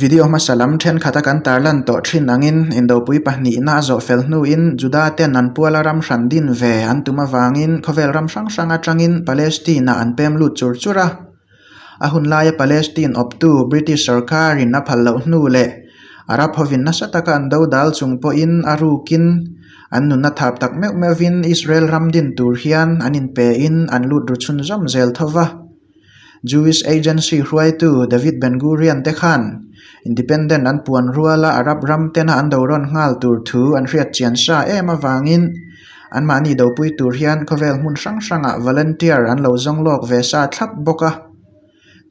Video hmasa lam ṭhenkhat a kan tar lan tawh ṭhin angin Indopui pahnihna a zawh fel hnuin Juda-ten an puala ram hran din ve an tum avangin khawvel ram hrang hrang aṭangin Palestine-ah an pem lut chur chur a. A hun laia Palestine awptu British sawrkarin a phal loh hnu leh Arab hovin nasa taka an do dal chung pawhin a rukin an nunna thap tak meuh meuhin Israel ram din tur hian an inpein an lut ru chhun zawm zel tho va. Jewish Agency hruaitu David Ben Gurion te khan Independent an puan rual a, Arab ram tena an do rawn nghal tur thu an hriatchian sa em avangin anmahni dopui tur hian khawvel hmun hrang hrangah volunteer an lo zawng lawk ve sa thlap bawk a.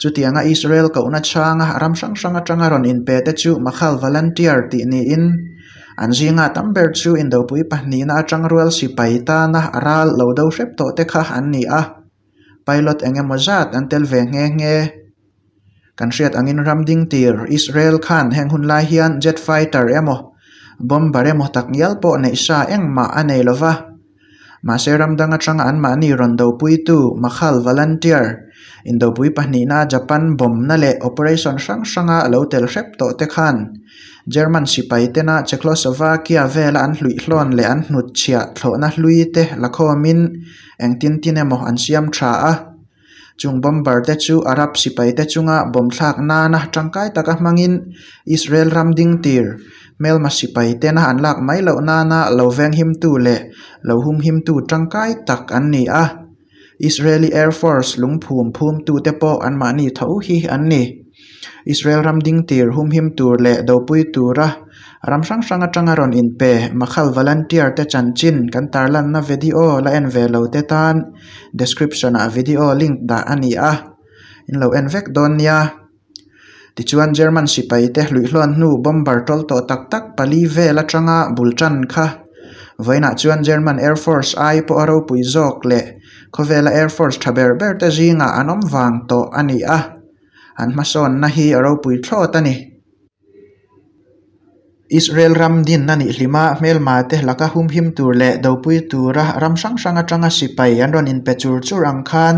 Chutianga Israel kohna chhanga a ram hrang hrang atanga rawn inpe te chu Makhal volunteer tih niin an zinga tam ber chu Indopui pahnihna atang rual sipai tana a ral lo do hrep tawh te kha an ni a. Pilot eng emaw zat an tel ve nghe nghe. Kan hriat angin ram ding tir Israel khan heng hun lai hian jet fighter emaw bomber emaw tak ngial pawh neih sa engmah a nei lo va. Mahse ram dang atanga an mahni rawn dopuitu Makhal volunteer indopui pahnihna Japan bawmna leh operation hrang hranga a lo tel hrep tawh te khan German sipai tena Checloslovakia vela an hluihlawn leh an hnutchhiah thlawhna hlui te la khawmin engtin tin emaw an siam tha a, chung bomber te chu Arab sipai te chunga bawm thlak nana tangkai taka hmangin Israel ram ding tir hmelma sipai tena an lak mai loh nana lo venghimtu leh lo humhimtu tangkai tak an ni a, Israeli Air Force lungphum phumtute pawh anmahni tho hi an ni. Israel ram ding tir humhim tur leh dopui tura ram hrang hrang atanga rawn inpe Makhal volunteer te chanchin kan tarlanna vedio la en ve lo te tan description ah vedio link dah a ni a, in lo en vek dawn nia. Tichuan German sipai te hluihluan hnu bomber tawl tawh tak tak pali vel atanga bul tan kha vawiinah chuan German Air Force ai pawh a ropui zawk leh khawvela Air Force tha ber ber te zingah an awm vang tawh a ni a. an hmasawnna hi a ropui thlawt a ni. Israel ram dinna nihlima hmelmate laka humhim tur leh dopui tura ram hrang hrang atanga sipai an rawn inpe chur chur ang khan,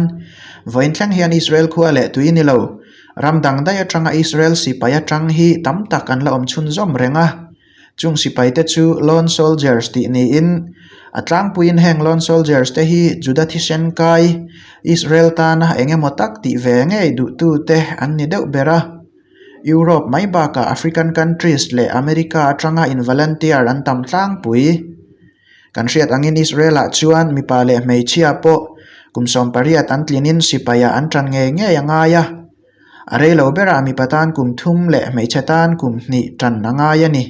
vawiin thleng hian Israel khua leh tui ni lo, ram dangdai atanga Israel sipai atang hi tam tak an la awm chhun zawm reng a. Chung sipai te chu Lone Soldiers tih niin a tlangpuiin heng Lone Soldiers te hi Juda thisen kai Israel tana eng emaw tak tih ve ngei duhtu te an ni deuh ber a. Europe mai bakah African countries leh America atanga involunteer an tam tlangpui. Kan hriat angin Israel-ah chuan mipa leh hmeichhia pawh kum sawmpariat an tlinin sipaiah an tan ngei ngei a ngai a. A rei lo berah mipa tan kum thum leh hmeichhe tan kum hnih ṭan a ngai a ni.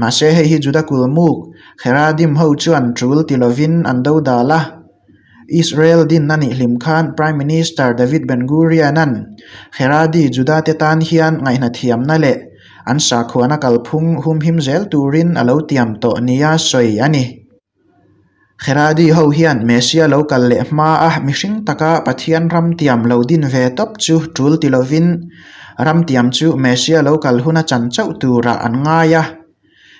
Mahse hei hi Juda kulmuk Heradim ho chuan ṭul ti lovin an do dal a. Israel din a nih hlim khan Prime Minister David Ben-Gurion-a'n Heradi Judate tan hian ngaihna thiamna leh an sakhuana kalphung humhim zel turin a lo tiam tawh nia sawi a ni. Heradi ho hian Messia lo kal leh hma a, mihring taka Pathian ramtiam lo din ve tawp chu tul ti lovin, ramtiam chu Messia lo kal huna chan chauh turah an ngai a.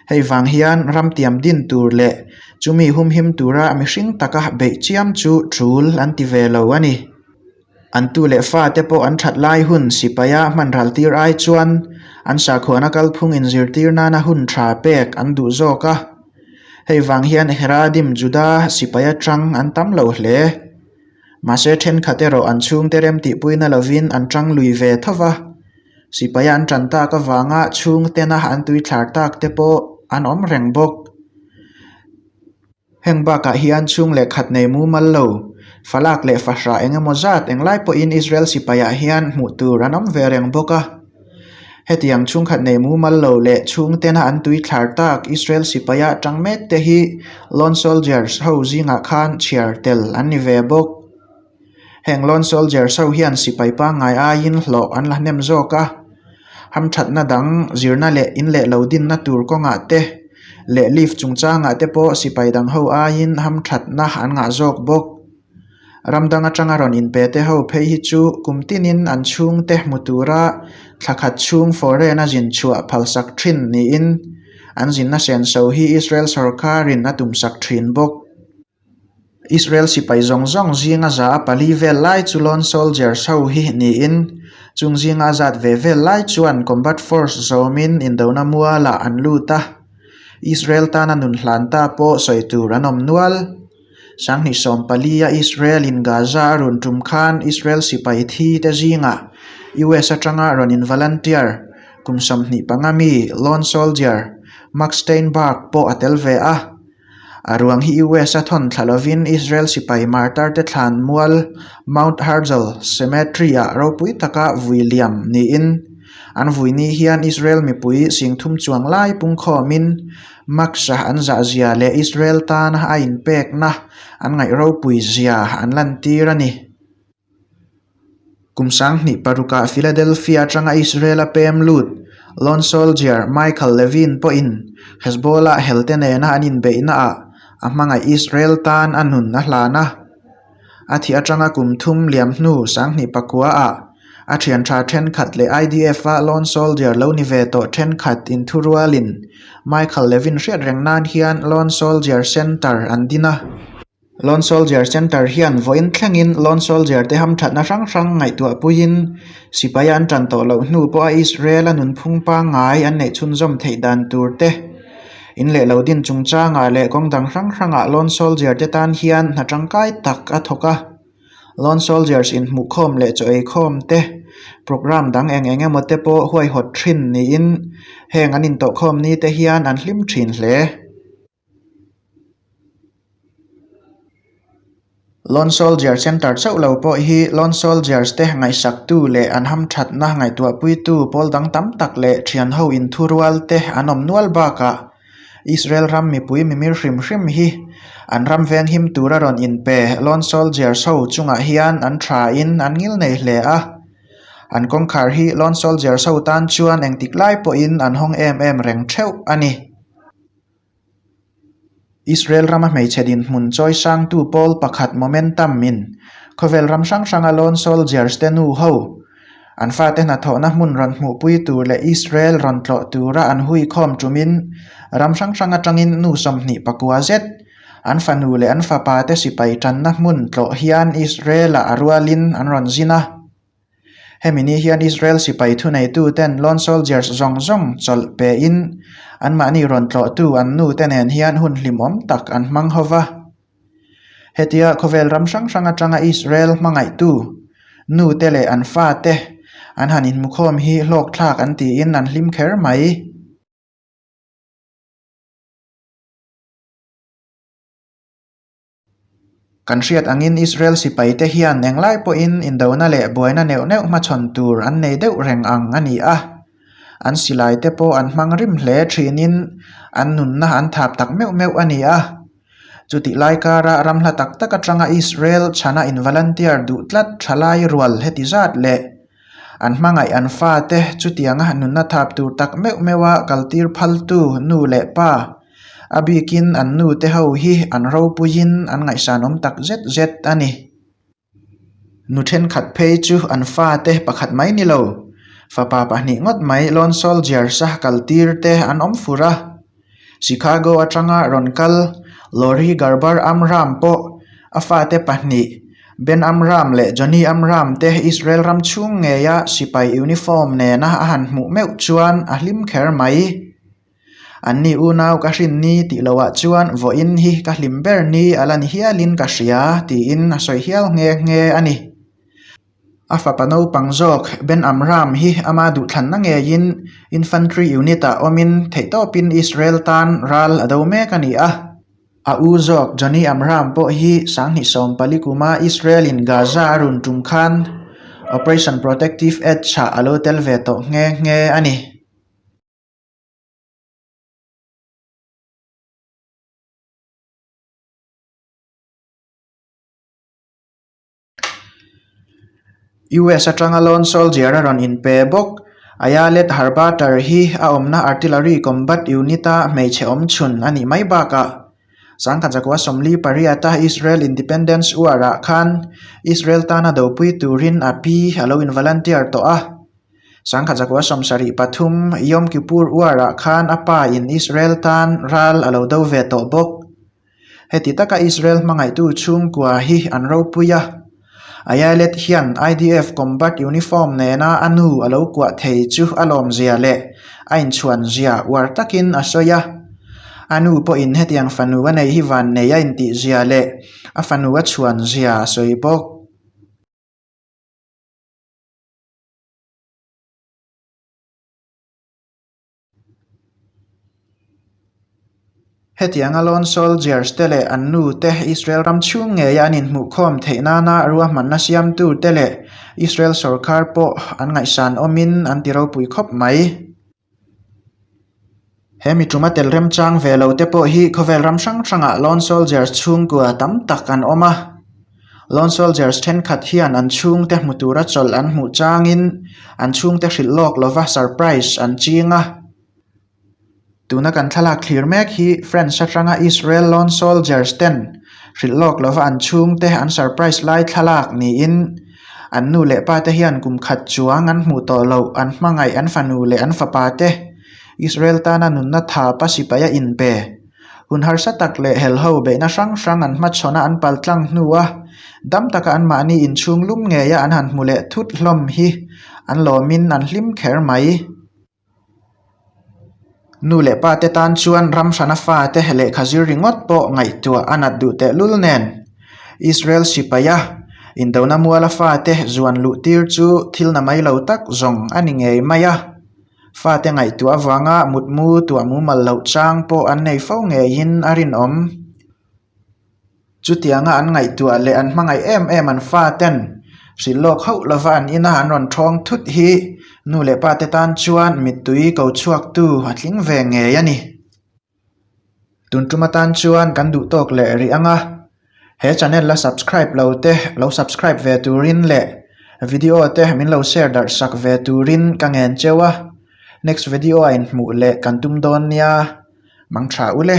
Hei vang hian ramtiam din tur leh chumi humhim tura mihring taka beih chiam chu tul an ti ve lo a ni. An tu leh fa te pawh an that lai hun sipaia hmanral tir ai chuan an sakhuana kalphung in zirtir nana hun tha pek an duh zawk a. Hei vang hian Heradim Juda sipai atang an tam lo hle. Mahse thenkhat erawh an chhungte rem tihpuina lovin an tang lui ve tho va. Sipaia an tan tak avanga chhungtena an tui thlar tak te pawh an awm reng bawk. Heng bakah hian chhung leh khat nei mumal lo, falak leh fahra eng emaw zat englai pawhin Israel sipaiah hian hmuh tur an awm ve reng bawk a. Hetiang chhungkhat nei mumal lo leh chhung tena an tui thlar tak Israel sipai a tang mek te hi lone soldiers ho zingah khan chhiar tel an ni ve bawk. Heng lone soldiers ho hian sipai pangngai aiin hlawh an la hnem zawk a, hamthatna dang zirna leh in leh lo dinna tur kawngah te leh lift chungchangah te pawh sipai dang ho aiin hamthatna an ngah zawk bawk. Ram dang atanga rawn inpe te ho phei hi chu kum tinin an chhung te hmu tura thla khat chhung foreign-a zin chhuah phalsak thin niin an zin nasen so hi Israel sorkarin a tumsak thin bawk. Israel sipai zawng zawng zinga za a pali vel lai chu lone soldiers ho hi niin chung zinga a zat ve vel lai chuan combat force zawmin indona mualah an lut a, Israel tana nun hlan ta pawh sawi tur an awm nual. Sanghnih sawm pali a Israel in Gaza a rawn tum khan Israel sipai thi te zinga US atanga rawn in volunteer kum sawmhnih panga mi lone soldier Mark Steinberg pawh a tel ve a, A ruang hi US-a thawnthlha lovin Israel sipai martar-te thlan mual Mount Herzl Cemetery-ah ropui taka vui liam niin, an vuini hian Israel mipui singthum chuang lai pungkhawmin maksa an zahzia leh Israel tana a inpekna an ngaih ropui zia an lantir a ni. Kum sang hnih paruk ah Philadelphia atanga Israela pem lut lone soldier Michael Levine pawhin Hezbollah helte nena an inbeihna ah a hmangaih Israel tan a nun a hlan a. A thih atanga kum thum liam hnu sang hnih pakua ah a thian tha thenkhat leh IDF a lone soldier lo ni ve tawh thenkhat in thu rual in Michael Levine hriat reng nan hian lone soldier center an din a. Lone Soldier Centre hian vawiin thlengin Lone Soldier te hamthatna hrang hrang ngaihtuah puiin sipaia an tan tawh loh hnu pawha Israel-a nunphung pangngai an neih chhunzawm theih dan tur te in leh lo din chungchanga leh kawng dang hrang hranga Lone Soldier te tan hian hna tangkai tak a thawk a. Lone Soldiers inhmuhkhawm leh chaw ei khawm te program dang eng eng emaw te pawh huaihawt thin niin heng an intawhkhawm ni te hian an hlim thin hle. Lone Soldier Centre chauh lo pawh hi Lone Soldiers te ngaihsaktu leh an hamthatna ngaihtuahpuitu pawl dang tam tak leh thianho inthurual te an awm nual bakah Israel ram mipui mimir hrim hrim hi an ram venghim tura rawn inpe Lone Soldiers ho chungah hian an tha in an ngil nei hle a. An kawngkhar hi Lone Soldiers ho tan chuan engtik lai pawhin an hawng em em reng theuh a ni. Israel rama hmeichhe dinhmun chawi sangtu pawl pakhat Momentum min, khawvel ram hrang hranga lawn soldiers te nu ho, an fate hnathawhna hmun rawn hmuhpui tur leh Israel rawn tlawh tura an hui khawm tumin ram hrang hrang atangin nu sawmhnih pakua zet, an fanu leh an fapa te sipai tanna hmun tlawh hian Israel-ah a rualin an rawn zin a. Hemi ni hian Israel sipai thuneituten lone soldiers zawng zawng chawlh pein anmahni rawn tlawhtu an nute nen hian hun hlim awm tak an hmang ho va. Hetia khawvel ram hrang hrang atanga Israel hmangaihtu nute leh an fate an han inhmukhawm hi hlawkthlak an tiin an hlim kher mai. Kan hriat angin Israel sipaite hian englai pawhin indona leh buaina neuh neuh hmachhawn tur an nei deuh reng ang a ni a. An silaite pawh an hmang rim hle thinin an nunna an thap tak meuh meuh a ni a. Chutih lai kara ram hla tak tak atanga Israel chhana involunteer duh tlat thalai rual heti zat leh, An hmangaih an fate chutianga nunna thap tur tak meuh meuha kaltir phaltu nu leh pa a bikin an nu te ho hi an ropuiin an ngaihsanawm tak zet zet a ni. Nu thenkhat phei chu an fate pakhat mai ni lo, fapa pahnih ngawt mai lone soldiers-a kaltirte an awm fur a. Chicago atanga rawn kal Lori Garber Amram pawh a fate pahnih Ben Amram leh Johnny Amram te Israel ram chhung ngeia sipai uniform nena a han hmuh meuh chuan a hlim kher mai. Anni unau ka hrin ni tih loah chuan vawiin hi ka hlim ber ni a la ni hialin ka hria, tiin a sawi hial nghe nghe a ni. A fapa naupang zawk Ben Amram hi ama duhthlanna ngeiin infantry unit ah awmin theihtawpin Israel tan ral a do mek a ni a. A u zawk Johnny Amram pawh hi sanghnih sawm pali kuma Israel-in Gaza a run tum khan Operation Protective Edge chhah a lo tel ve tawh nghe nghe a ni. US atanga lone soldier-a rawn in pe bawk. Aia-let Harbater hi a awmna Artillery Combat Unit-a hmeichhe awmchhun a nih mai bakah a sangkhat zakua sawmli pariat-a Israel Independence War-ah khan Israel tana dopui turin a pi a lo in volunteer tawh a. Sangkhat zakua sawm sarih pathum Yom Kippur War-ah khan a pa in Israel tan ral a lo do ve tawh bawk. Heti taka Israel hmangaihtu chhungkua hi an ropui a, Ayelet hian IDF combat uniform nena a nu a lo kuah thei chu a lawmzia leh a inchhuanzia uar takin a sawi a. A nu pawhin hetiang fanu a nei hi vannei a intihzia leh a fanu a chhuanzia a sawi bawk. Hetianga lone soldiers te leh an nu te Israel ram chhung ngeia an inhmuhkhawm theih nana ruahmanna siamtu te leh Israel sorkar pawh an ngaihsan awmin an ti ropui khawp mai. He mi ṭuma tel remchang ve lo te pawh hi khawvel ram hrang hrangah lone soldiers chhungkua tam tak an awm a. Lone Soldiers thenkhat hian an chhungte hmu tura chawlh an hmuh changin an chhungte hrilh lawk lova surprise an ching a. Tuna kan thlalak thlir mek hi France atanga Israel Lone Soldiers ten hrilh lawk lova an chhungte an surprise lai thlalak niin an nu leh pa te hian kum khat chuang an hmuh tawh loh an hmangaih an fanu leh an fapa te Israel tana nunna thapa sipaia inpe Hun harsa tak leh hel ho behna hrang hrang an hmachhawnah an pal tlang hnu a, dam taka anmahni inchhung lum ngeia an han hmu leh thut hlawm hi an lawmin an hlim kher mai. Nu leh pa te tan chuan ram hrana fa te lehkha zir ringawt pawh ngaihtuah a nat duh tehlul nen. Israel sipaia indona muala fa te zuan luh tir chu thilna mai lo tak zawng a ni ngei mai a. Fate ngaihtuah avanga mutmu tuah mumal loh chang pawh an nei fo ngeiin a rinawm. Chutianga an ngaihtuah leh an hmangaih em em an faten hrilh lawk hauh lova an in a, an rawn thawng thut hi nu leh pate tan chuan mittui ko chhuaktu a tling ve ngei a ni. Tun tuma tan chuan kan duh tawk leh rih anga he channel la subscribe lo te lo subscribe ve turin leh video te min lo share darhsak ve turin ka ngen cheu a next video a inhmuh leh kan tum dawn nia mang tha ule.